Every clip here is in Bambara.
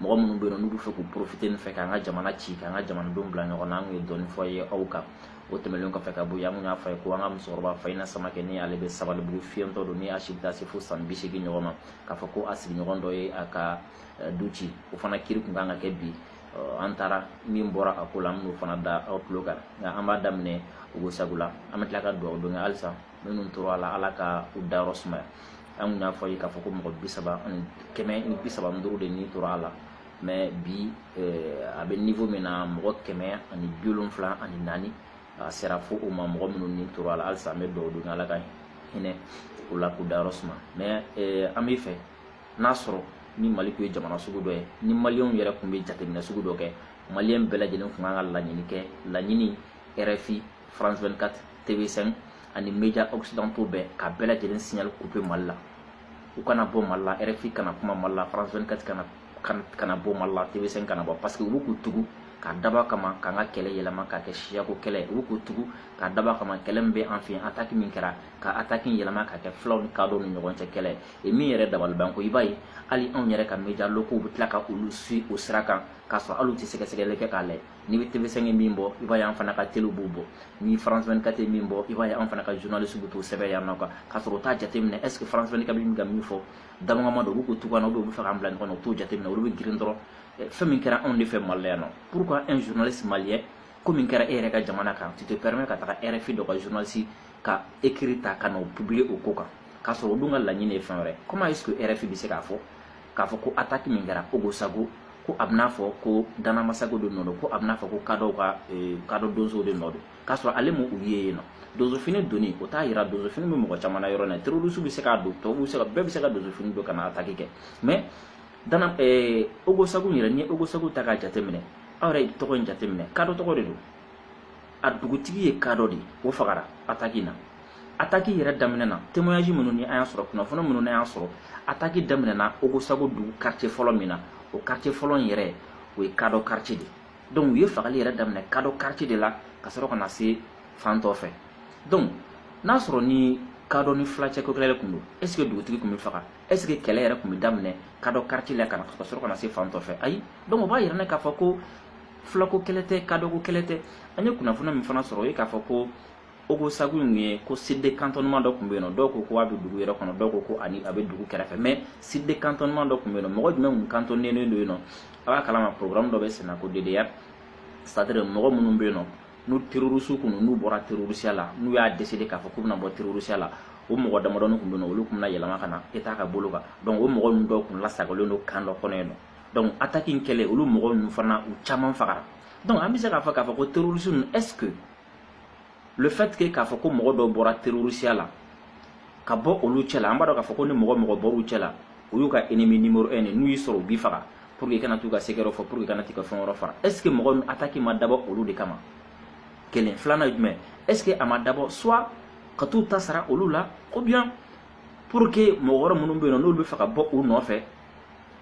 mɔgɔ minnu bɛ yen n'u bɛ fɛ k'u porofite nin fɛ k'an ka jamana ci k'an ka jamanadenw bila ɲɔgɔn na an kun ye dɔɔni fɔ ye aw kan o tɛmɛnen kɔfɛ ka bɔ yen an kun y'a fɔ ye ko an ka musokɔrɔba fayina samakɛ ni ale bɛ sabalibugu fiyɛntɔ don ni a si bɛ taa se fo san bi seegin ɲɔgɔn ma k'a fɔ ko a sigiɲɔgɔn dɔ ye a ka eh, du ci o fana kiri kun kan ka kɛ bi eh, an taara min bɔra a ko la an bɛn'o fana da aw tulo kan nka an b'a daminɛ ogosago la an bɛ tila ka dugawu don kɛ halisa minnu tora a la ala ka u dayɔrɔ sumaya an kun y'a fɔ ye k'a fɔ ko mɔgɔ bi saba ani kɛmɛ ni bi saba ni duuru de ni tora a la mɛ bi a bɛ nivo min na mɔgɔ kɛmɛ ani bi wolonfila ani naani a sera fo o ma mɔgɔ minnu ni tora a la halisa an bɛ dugawu don ala ka hinɛ u la k'u dayɔrɔ suma mɛ an bɛ fɛ n'a sɔrɔ ni mali tun ye jamana sugu dɔ ye ni maliyɛnw yɛrɛ tun bɛ jateminɛ sugu dɔ kɛ maliyɛn bɛɛ lajɛlen tun kan ka laɲini kɛ laɲini rfi France 24 TV5 ani media occidentaux bɛɛ ka bɛɛ lajɛlen signal coupé Mali la u kana bɔ Mali la RFI kana kuma Mali la France 24 kana kana bɔ Mali la TV5 kana bɔ parce que u bɛ k'u tugu k'a dabɔ kama k'an ka kɛlɛ yɛlɛma k'a kɛ siyako kɛlɛ u bɛ k'u tugu k'a dabɔ kama kɛlɛ min bɛ an fɛ yen ataki min kɛra ka ataki yɛlɛma k'a kɛ fulaw ni kadɔw ni ɲɔgɔn cɛ kɛlɛ ye min yɛrɛ dabalibanko i b'a ye hali anw yɛrɛ ka media locaux bɛ tila ka olu suivi o sira kan k'a sɔrɔ hali u tɛ sɛgɛsɛgɛli kɛ k'a lajɛ ni tv5 ye min bɔ i b'a ye an fana ka telew b'o bɔ ni france 24 ye min bɔ i b'a ye an fana ka journaliste bɛ t'o sɛbɛn yan nɔ kan k'a sɔrɔ u t'a jateminɛ est ce que france 24 bɛ min ka min fɔ dabɔ kama don u bɛ k'u tugu na u bɛ u b'a fɛ k'an bila ɲɔgɔn na u t'o jateminɛ olu bɛ girin dɔrɔn eh, fɛn min kɛra anw de fɛ mali la yan nɔ pourquoi un journaliste malien ko min kɛra e yɛrɛ ka jamana kan tu te permets ka taga rfi dɔ ka journaliste ka écrit ta ka n'o publier o ko kan k'a sɔrɔ o dun ka laɲini ye fɛn wɛrɛ comment est ce que rfi bɛ se k'a fɔ k'a fɔ ko ataki min kɛra ogosago ko a bɛn'a fɔ ko dana amasago de nɔ don ko a bɛn'a fɔ ko kadɔw ka eh, kadɔ donsow de nɔ don k'a sɔrɔ ale m'u ye yen nɔ donsofini doni o t'a yira donsofini bɛ mɔgɔ caman na yɔrɔ na terroriste bɛ se k'a don tɔw bɛ se ka bɛɛ bɛ se ka donsofini don ka na ataki kɛ mais dana eh, ogosago yɛrɛ n'i ye ogosago ta k'a jateminɛ aw yɛrɛ tɔgɔ in jateminɛ kadɔ tɔgɔ de don a dugutigi ye kadɔ de o fagara ataki na ataki yɛrɛ daminɛna témoignage minnu ni an y'a sɔrɔ kunnafoni minnu n'an y'a sɔrɔ ataki daminɛna ogosago dugu quartier fɔlɔ min na o quartier fɔlɔ in yɛrɛ o ye kadɔ quartier de donc u ye fagali yɛrɛ daminɛ kadɔ quartier de la ka sɔrɔ ka na se fan tɔ fɛ donc n'a sɔrɔ ni kadɔ ni fila cɛ ko kɛlɛ de tun don est ce que dugutigi tun bɛ faga est ce que kɛlɛ yɛrɛ tun bɛ daminɛ kadɔ quartier la ka sɔrɔ ka na se fan tɔ fɛ ayi donc o b'a yira an na k'a fɔ ko fulako kɛlɛ tɛ kadɔko kɛlɛ tɛ an ye kunnafoni min fana sɔrɔ o ye k'a fɔ ko ogosagu in ye ko site cantonnement dɔ tun bɛ yen nɔ dɔw ko ko a bɛ dugu yɛrɛ kɔnɔ dɔw ko ko ani a bɛ dugu kɛrɛfɛ mais site cantonnement dɔ tun bɛ yen nɔ mɔgɔ jumɛn tun kantɔnnen don yen nɔ a b'a kalama programme dɔ bɛ senna ko DDR c'est-à-dire mɔgɔ minnu bɛ yen nɔ n'u terrorisiw kun n'u bɔra terrorisiya la n'u y'a décider k'a fɔ k'u bɛna bɔ terrorisiya la o mɔgɔ damadɔni tun bɛ yen nɔ olu tun bɛna yɛlɛma ka na État ka bolo kan donc o mɔgɔ ninnu dɔw tun lasagalen don camp dɔ kɔnɔ yen nɔ donc attaque in kɛlen olu mɔgɔ ninnu fana u caman fagara donc an bɛ se k'a fɔ k'a fɔ ko terroriste ninnu est ce que le fait que k'a fɔ ko mɔgɔ dɔ bɔra terrorisiya la ka bɔ olu cɛ la an b'a dɔn k'a fɔ ko ni mɔgɔ mɔgɔ bɔr'u cɛ la o y'u ka ennemi numéro un de n'u y'i sɔrɔ u b'i faga pour que i kana t'u ka sekɛrɛw fɔ pour que i kana t'i ka fɛn wɛrɛ fɔ est ce que mɔgɔ ninnu attaque ma dabɔ olu de kama kelen filanan ye jumɛn est ce que a ma dabɔ soit ka t'u ta sara olu la ou bien pour que mɔgɔ wɛrɛ minnu bɛ yen nɔ n'olu bɛ fɛ ka bɔ u nɔfɛ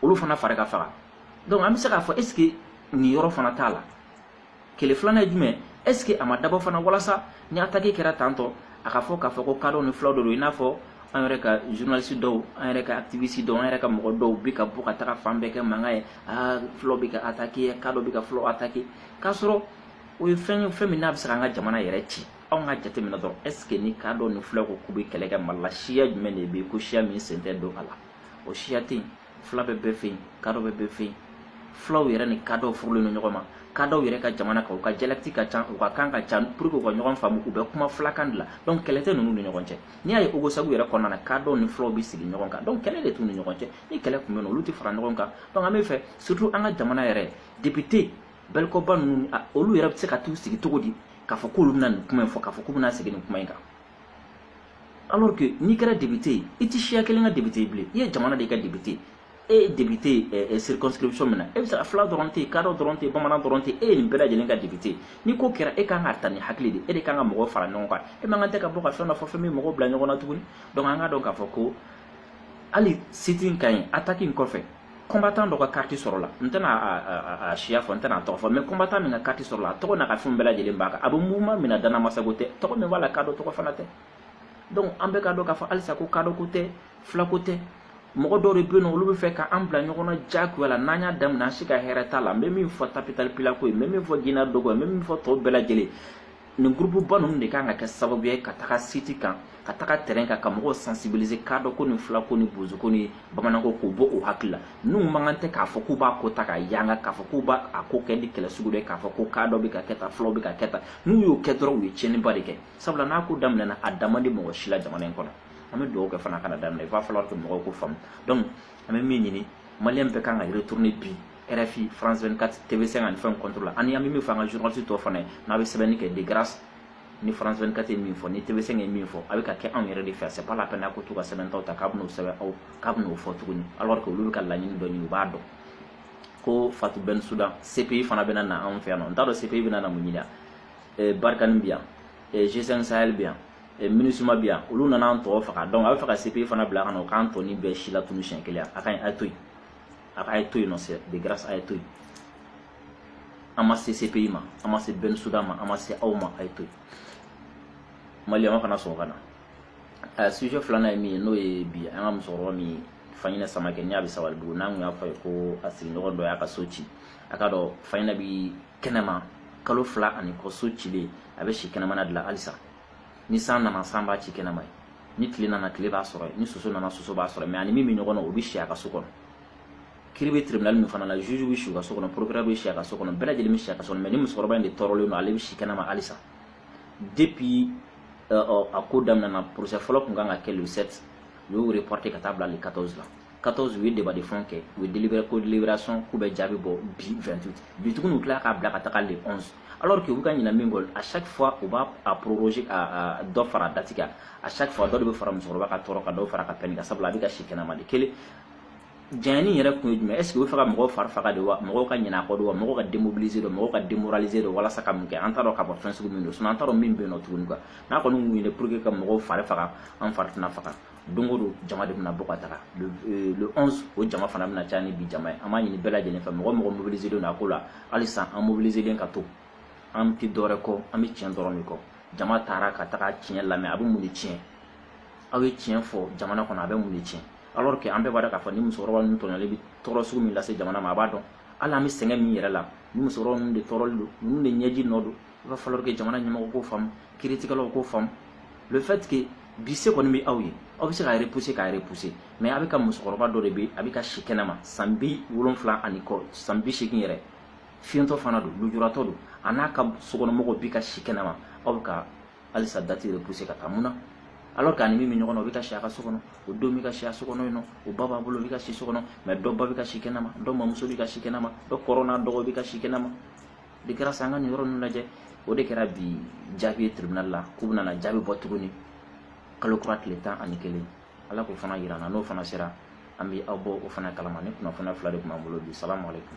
olu fana fari ka faga donc an bɛ se k'a fɔ est ce que nin yɔrɔ fana t'a la kelen filanan ye jumɛn est ce que a ma dabɔ fana walasa ni attaque kɛra tantôt a ka fɔ k'a fɔ ko kadɔw ni fulaw de don i n'a fɔ an yɛrɛ ka journaliste dɔw an yɛrɛ ka activiste dɔw an yɛrɛ ka mɔgɔ dɔw bɛ ka bɔ ka taga fan bɛɛ kɛ mankan ye aa fulaw bɛ ka attaquer kadɔ bɛ ka fulaw attaquer k'a sɔrɔ o ye fɛn ye fɛn min n'a bɛ se k'an ka jamana yɛrɛ ci anw ka jateminɛ dɔrɔn est ce que ni kadɔ ni fulaw ko k'u bɛ kɛlɛ kɛ mali la siya jumɛn de bɛ yen ko siya min sen tɛ don a la o siya tɛ yen fila bɛ bɛɛ fɛ yen kadɔ bɛ bɛɛ fɛ yen fulaw yɛrɛ ni kadɔw furulen don ɲɔgɔn ma kadɔw yɛrɛ ka jamana kan u ka dialecte ka ca u ka kan ka ca pour que u ka ɲɔgɔn faamu u bɛ kuma fulakan de la donc kɛlɛ tɛ ninnu ni ɲɔgɔn cɛ n'i y'a ye ogosagu yɛrɛ kɔnɔna na kadɔw ni fulaw bɛ sigi ɲɔgɔn kan donc kɛlɛ de t'u ni ɲɔgɔn cɛ ni kɛlɛ tun bɛ yen olu tɛ fara ɲɔgɔn kan donc an bɛ fɛ surtout an ka jamana yɛrɛ député Belco Bah ninnu olu yɛrɛ bɛ se ka t'u sigi cogo di k'a fɔ k'olu bɛna nin kuma in fɔ k'a fɔ k'u bɛna segin nin kuma in kan alors que n'i kɛra député ye i tɛ siya kelen ka député ye bilen i ye jamana de ka député e ye député ye circonscription min na i b'a sɔrɔ fila dɔrɔn tɛ yen kadɔ dɔrɔn tɛ yen bamanan dɔrɔn tɛ yen e ye nin bɛɛ lajɛlen ka député ye ni ko kɛra e kan k'a ta ni hakili de e de kan ka mɔgɔw fara ɲɔgɔn kan e man kan tɛ ka bɔ ka fɛn dɔ fɔ fɛn min mɔgɔw bila ɲɔgɔn na tuguni donc an k'a dɔn k'a fɔ ko hali site in kan yen attaque in kɔfɛ combattant dɔ ka carte sɔrɔla n tɛna a siya fɔ n tɛna a tɔgɔ fɔ mais combattant min ka carte sɔrɔla a tɔgɔ n'a ka fɛnw bɛɛ lajɛlen b'a kan a bɛ mouvement min na Dana Ambassagou tɛ tɔgɔ min b'a la kadɔ tɔgɔ fana tɛ donc an bɛɛ k'a dɔn k'a fɔ halisa ko kadɔko tɛ filako tɛ mɔgɔ dɔw de bɛ yen nɔ olu bɛ fɛ ka an bila ɲɔgɔn na diyagoya la n'an y'a daminɛ an si ka hɛrɛ t'a la n bɛ min fɔ Tabital Pulaaku ye n bɛ min fɔ Ginna Dogon ye n bɛ min fɔ tɔw bɛɛ lajɛlen nin groupe ba ninnu de kan ka kɛ sababu ye ka taga site kan ka taga terrain kan ka mɔgɔw sensibiliser kadɔko ni filako ni bozoko ni bamananko k'o bɔ u hakili la n'u man kan tɛ k'a fɔ k'u b'a ko ta ka yanga k'a fɔ k'u b'a a ko kɛ ni kɛlɛ sugu dɔ ye k'a fɔ ko kadɔ bɛ ka kɛ tan fulaw bɛ ka kɛ tan n'u y'o kɛ dɔrɔn u ye tiɲɛniba de kɛ sabula n'a ko daminɛna a da man di mɔgɔ si la jamana in kɔnɔ an bɛ dugawu kɛ fana kana daminɛ il va falloir que mɔgɔw k'o faamu donc an bɛ min ɲini maliyɛn bɛɛ kan ka retourner bi RFI, France 24, TV5 ani fɛn contre la ani an bɛ min fɔ an ka journaliste tɔw fana ye n'a bɛ sɛbɛnni kɛ de grâce ni France 24 ye min fɔ ni TV5 ye min fɔ a bɛ ka kɛ anw yɛrɛ de fɛ c'est pas la peine a ko to ka sɛbɛntaw ta k'a bɛn'o sɛbɛn aw k'a bɛn'o fɔ tuguni alors que olu bɛ ka laɲini dɔ ɲini u b'a dɔn ko Fatou Bensouda CPI fana bɛna na anw fɛ yan nɔ n t'a dɔn CPI bɛna na mun ɲini yan Barkhane bɛ yan G5 Sahel bɛ yan eh, MINUSMA bɛ yan olu nana an tɔgɔ faga donc a bɛ fɛ ka CPI fana bila ka na o k'an tɔnin bɛɛ silatunu siɲɛ kelen a ka ɲi a ye to yen a ka a ye to yen nɔ c'est de grâce a ye to yen an ma se CPI ma an ma se Bensouda ma an ma se aw ma a ye to yen Maliyɛnw kana sɔn ka na a sujet filanan ye min ye n'o ye bi an ka musokɔrɔba min ye Faɲinɛ Samakɛ ni a bɛ Sabalibugu n'an tun y'a fɔ a ye ko a sigiɲɔgɔn dɔ y'a ka so ci a k'a dɔn Faɲinɛ bi kɛnɛma kalo fila ani kɔ so cilen a bɛ si kɛnɛmana de la halisa ni san nana san b'a ci kɛnɛma yen ni tile nana tile b'a sɔrɔ yen ni soso nana soso b'a sɔrɔ mais a ni min bɛ ɲɔgɔn na o bɛ si a ka so kɔnɔ kiiri bɛ tribunal min fana la juge bɛ si u ka so kɔnɔ procureur bɛ si a ka so kɔnɔ bɛɛ lajɛlen bɛ si a ka so kɔnɔ mais ni musokɔrɔba in de tɔɔrɔlen don ale bɛ si kɛnɛma halisa depuis a ko daminɛna procès fɔlɔ tun kan ka kɛ le 7 u y'o reporté ka taa bila le 14 la 14 u ye débat de fond kɛ u ye délibéré ko délibération k'u bɛ jaabi bɔ bi 28 bi tuguni u tila k'a bila ka taga le 11 alors que u bɛ ka ɲinɛ min kɔ à chaque fois u b'a proroger ka dɔ fara date kan à chaque fois dɔ de bɛ fara musokɔrɔba ka tɔɔrɔ kan dɔ fara a ka peine kan sabula a bɛ ka si kɛnɛma de kelen janyani yɛrɛ kun ye jumɛn est ce que u bɛ fɛ ka mɔgɔw fari faga de wa mɔgɔw ka ɲinɛ a kɔ de wa mɔgɔw ka démobiliser de mɔgɔw ka démoraliser de walasa ka mun kɛ an t'a dɔn k'a fɔ fɛn sugu min don sinon an t'a dɔn min bɛ yen nɔ tuguni quoi n'a kɔni kun ye pour que ka mɔgɔw fari faga an fari tɛna faga don o don jama de bɛna bɔ ka taga le 11 euh, o jama fana bɛna caya ni bi jama ye an b'a ɲini bɛɛ lajɛlen fɛ mɔgɔ mɔgɔ mobiliser don a ko la halisa an mobiliserlen ka to an tɛ dɔwɛrɛ kɔ an bɛ tiɲɛ dɔrɔn de kɔ jama taara ka taga tiɲɛ lamɛn a bɛ mun de tiɲɛ aw ye tiɲɛ fɔ jamana kɔnɔ a bɛ mun de tiɲɛ alors que an bɛɛ b'a dɔn k'a fɔ ni musokɔrɔba ninnu tɔɲɔlen bɛ tɔɔrɔ sugu min lase jamana ma a b'a dɔn hali an bɛ sɛgɛn min yɛrɛ la ni musokɔrɔba ninnu de tɔɔrɔlen don ninnu de ɲɛji nɔ don il va falloir que jamana ɲɛmɔgɔ k'o faamu kiiritigɛlaw k'o faamu le fait que bi se kɔni bɛ aw ye aw bɛ se k'a repousser k'a repousser mais a bɛ ka musokɔrɔba dɔ de bɛ a bɛ ka si kɛnɛma san bi wolonfila ani kɔ san bi seegin yɛrɛ fiyentɔ fana don lujuratɔ don a n'a ka sokɔnɔmɔgɔw bɛ ka si kɛnɛma aw bɛ ka halisa date repousser ka taa mun na alors que a ni min bɛ ɲɔgɔn na o bɛ ka si a ka so kɔnɔ o don bɛ ka si a so kɔnɔ yen nɔ o ba b'a bolo o bɛ ka si so kɔnɔ mais dɔ ba bɛ ka si kɛnɛma dɔ mamuso bɛ ka si kɛnɛma dɔ kɔrɔ n'a dɔgɔ bɛ ka si kɛnɛma de kɛra sa an ka nin yɔrɔ ninnu lajɛ o de kɛra bi jaabi ye tribunal la k'u bɛna na jaabi bɔ tuguni kalo kura tile tan ani kelen ala k'o fana yira an na n'o fana sera an bɛ aw bɔ o fana kalama nin kunnafoniya fila de tun b'an bolo bi salamu aleykum